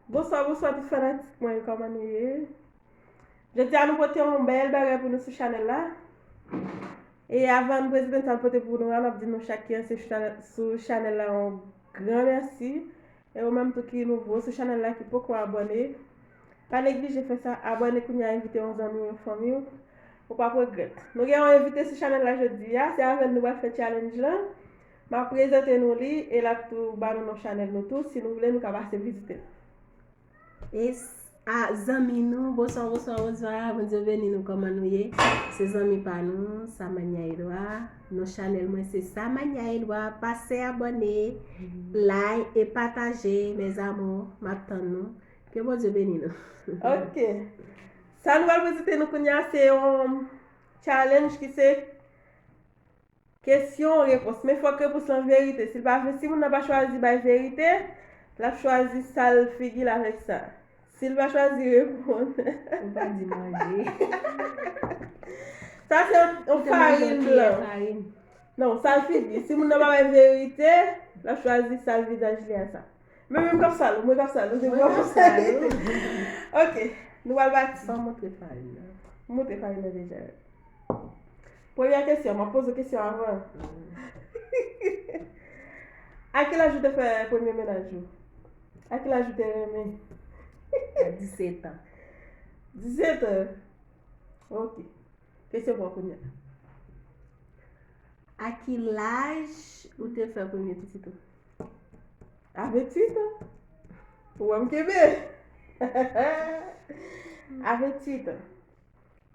Bonswa bonswa tout fanatik mwen kòman nou ye Jodi a nou pote yon bèl bagay pou nou sou chanèl la E avan nou prezante sa nou pote pou nou an Nap di nou chak ki ansyen sou chanèl la yon gran mèsi E ou menm tou ki nouvo sou chanèl la ki poko abòne Pa neglije fè sa abòne kounya envite yon zanmi ou yon fanmi ou Ou pap regrèt Nou gen yon envite sou chanèl la jodi a Se avèl nou pral fè challenge lan Map prezante nou li e lap tou ba nou non chanel nou tou si nou vle nou ka pase vizite l. Yes a zanmi nou bonswa bonswa bonswa bondye beni nou koman nou ye se zanmi pa nou samania edwa non chanel mwen se samania edwa pase abone lay e pataje mes amour map tann nou ke bondye beni nou ok sa nou al vizite nou kounya se yon challenge ki se Kesyon, repons. Men fòk repons lan verite. Si l pa vre, si moun nan pa chwazi bay verite, l ap chwazi sal figi l avèk sa. Si l pa chwazi reponn. Ou pa di manje. Sa se yon farin blan. Non, sal figi. Si moun nan pa bay verite, l ap chwazi sal vizaj li a sa. Men menm kap sal ou, mwen kap sal ou, se pou kap sal ou. Ok, nou pral bati. San moutre farin nan. Moutre farin nan deja. Premyè kesyon, mwen poze kesyon avan. A ki laj ou te fè premye menaj ou? A ki laj ou te renmen? A 17 an. 17 an? Ok. Kesyon pou akounye. A ki laj ou te fè premye pitit ou? A 28 an. Ou wè m kebe? A 28 an.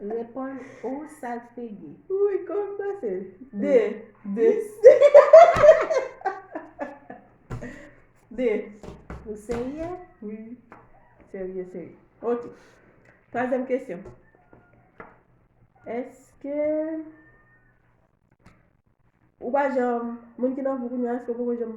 Reponn ou sak figi. Ui kòm pase. 2 2 2 Ou serye? Ui serye serye. Ok. Twazyèm kesyon. Eske ou pa janm moun ki nan vou kounye a eske ou poko janm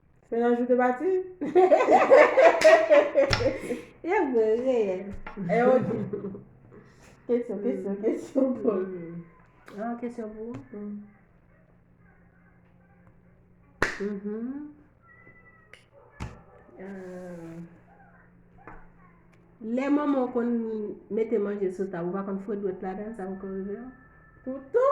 Se nan jou te pati? Yo gwe reyèl. E yo di. Kesyon, kesyon, kesyon pou ou. An, kesyon pou ou. Mhm. Euh, Lè manman ou konn mete manje sou tab, ou pa konn fwet dwèt ladan, sa poko rive ou? Toutou?